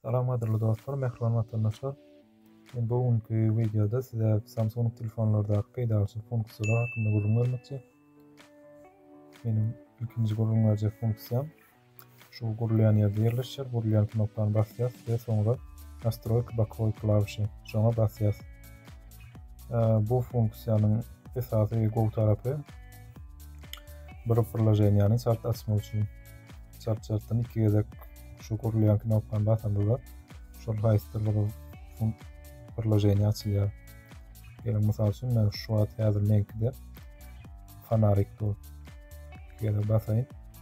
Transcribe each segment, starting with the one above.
Salam gadyrly dostlar, mähriban watandaşlar. Men bu günki wideoda size Samsung telefonlardaky peýdaly funksiýalar hakynda gürrüň bermekçi. Meniň ilkinji gürrüň berjek funksiýam Şu gurulýan ýerde ýerleşýär. Gurulýan knopkany basýas we soňra Nastroýka bokowy klawişi. Şoňa basýas. Bu funksiýanyň esasy gowy tarapy bir priloženiýany çalt açmak üçin çalt-çaltdan iki gezek şu gurulýan knopkany basandygyda şol haýsydyr bir priloženiýa açylýar. Geliň, mysal üçin, men şu wagt häzir meňkide fanarik dur. Gele basaýyn.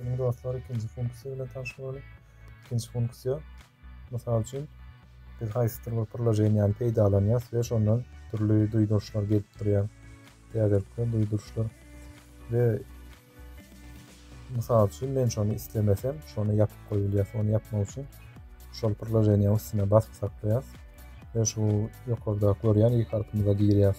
Indi dostlar ikinji funksiýa bilen tanyş bolalyň. Ikinji funksiýa mysal üçin biz haýsydyr bir priloženiýany peýdalanýas we şondan dürli duýduryşlar gelip durýar. Täzelikler, duýduryşlar we mysal üçin men şony islemesem, şony ýapyp goýulýas. Ony ýapmak üçin şol priloženiýa üstüne basyp saklaýas we şu ýokarda görýän ilk harpymyza girýäs.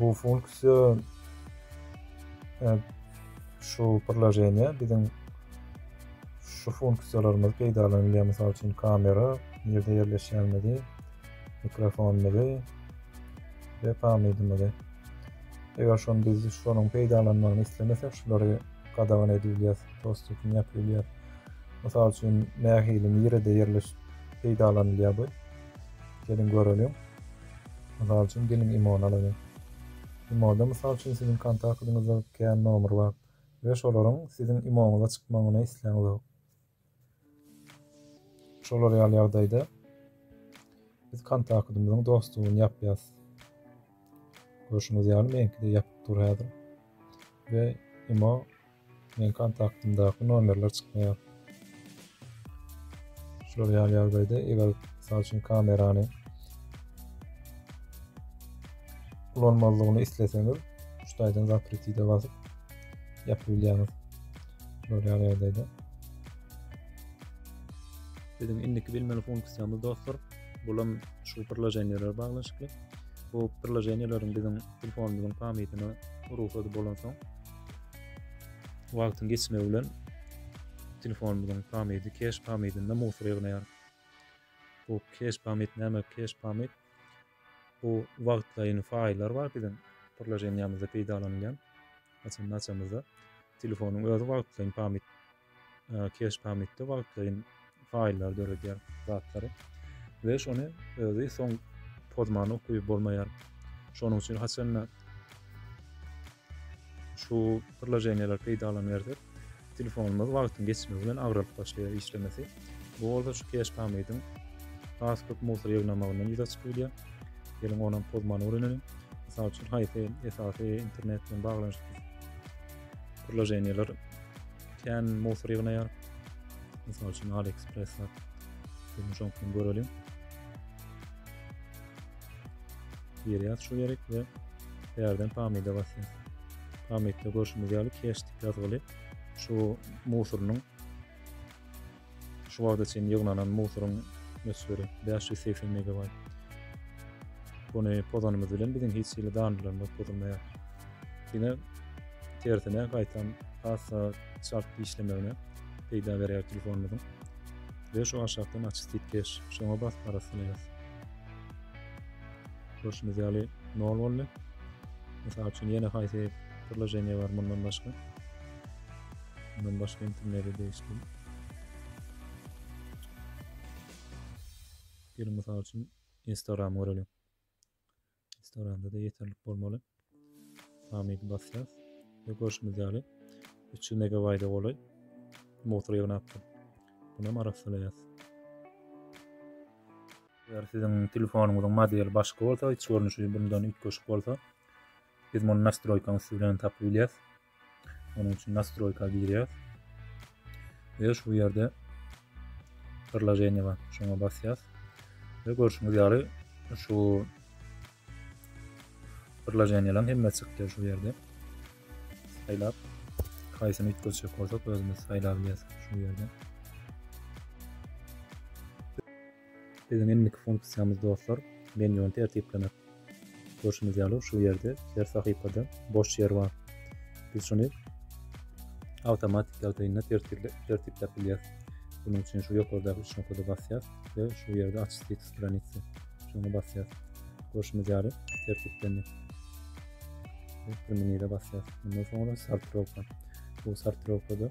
Bu funksiýa şu priloženiýa biziň şu funksiýalarymyzy peýdalanylýar. Mysal üçin kamera, nirde ýerleşýänimizi, mikrofonymyzy we pamydymyzy. Eger şony biz şonuň peýdalanmagyny islemesek, şulary gadagan edip bilýäris, dostupyny ýapyp bilýäris. Mysal üçin nähili, nirede ýerleşip peýdalanylýar bu? Geliň göreliň. Mysal üçin, geliň IMO-ny alaýyň. IMO-da, mysal üçin, siziň kontaktyňyzda kän nomer bar we şolaryň siziň IMO-ňyza çykmagyny isläň zok. Şolar ýaly ýagdaýda biz kontaktymyzyň dostuny ýapýas. Görşüňiz ýaly, meňki-de ýapyk dur häzir we IMO Meniň kontaktymdaky nomerler çykmaýar. Şular ýaly ýagdaýda eger mysal üçin kamerany ulanmazlygyny isleseňiz şu taýdan zapretide basyp ýapyp bilýäňiz. Şular ýaly ýagdaýda. Biziň indiki bilmeli funksiýamyz dostlar, bulam şu priloženiýalara baglanyşykly. Bu priloženiýalaryň biziň telefonumyzyň pamytyna rugsady bolansoň, Wagtyň geçmegi bilen telefonymyzyň pamydy keş pamydynda musur ýygnaýar. Bu keş pamyt näme? Keş pamyt bu wagtlaýyn faýllar bar biziň priloženiýamyzda peýdalanylýan. Açan açamyzda telefonyň özi wagtlaýyn pamyt Keş pamytda wagtlaýyn faýllary döredýär zatlary we şony özi soň pozmany okuyup bolmaýar. Şonuň üçin haçanda şu priloženiýalar peýdalanyberse, telefonymyz wagtyň geçmegi bilen agralyp başlaýar işlemesi. Bu bolsa şu keş pamydyň has köp musor ýygnamagyndan ýüze çykyp bilýär. Geliň onuň pozmany öwrenelim. Mysal üçin, haýsy esasy internet bilen baglanyşykly Priloženiýalar kän musor ýygnaýar. Mysal üçin AliExpress bar. Şunu şoňkam görelim. Girýär şu gerek we ýerden pamida basýar. Pamidde görşümiz ýaly keşdik ýazgyly şu musorynyň Şu wagta çenli ýygnanan musuryň möçberi bäş ýüz segsen megabaýt. Buny pozanymyz bilen biziň hiç hili danylarymyz pozulmaýar. Diňe tersine gaýtam hassa çalt işlemegine peýda berýär telefonymyzyň. Ve şu aşakdan açystit keş. Şoňa basyp arassalaýarys. Görşüňiz ýaly 0 boldy. Mysal üçin ýene haýsy priloženiýe bar mundan başga? Mundan başga intimleri degişli. Geliň mysal üçin Instagram göreliň. Instagramda da yeterlik bolmaly. Hamid basýas ve görşümiz ýaly 300 megabayda golaý motor ýygnapdyr. Bunu hem arassalaýas. Eger siziň telefonyňyzyň modeli başga bolsa, iç görnüşi bundan üýtgeşik bolsa, biz muny nastroýkaň üsti bilen tapyp bilýäs. Onuň üçin nastroýka girýäs. Ve şu ýerde priloženiýe bar. Şoňa basýas. Ve görşüňiz ýaly şu priloženiýalaryň hemmesi çykdy şu ýerde. Saýlap haýsyny üýtgetjek bolsak özümiz saýlap şu ýerde. Biziň indiki funksiýamyz dostlar menýuny tertiplemek. Görşüňiz ýaly şu ýerde her sahypada boş ýer bar. Biz şuny awtomatik ýagdaýynda tertipläp bilýäs. Bunuň üçin şu ýokardaky üç nokada basýas we şu ýerde aç stik stranitsi şoňa basýas. Görşüňiz ýaly tertiplendi. Primenire basýas. Mundan soňra sortirowka. Bu sortirowkada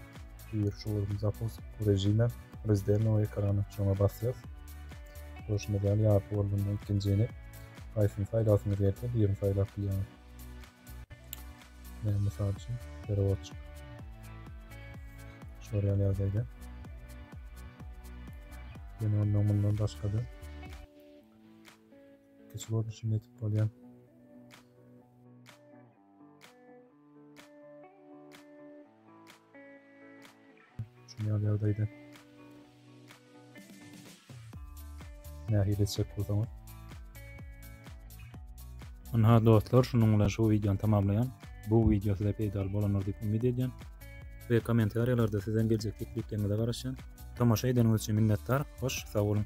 Wirtual Zapus rejime Rezdernowy ekrany çona basýas. Görşüňiz ýaly ýarpy bolanda ikinjini haýsyny saýlasyňyz gelse birini saýlap bilýäňiz. Men mysal üçin perevodçik. Şol ýaly ýagdaýda. Ýene ondan mundan başga-da kiçi görnüşini etip bolýar. Şunýal ýagdaýda nähili etjek bolsaňyz. Ynha dostlar, şunuň bilen şu wideony tamamlaýan. Bu wideo size peýdaly bolandyr diýip umyt edýän. We kommentariýalarda sizden geljek tekliplerinize garaşýan. Tomaşa edeniňiz üçin minnetdar. Hoş, sag boluň.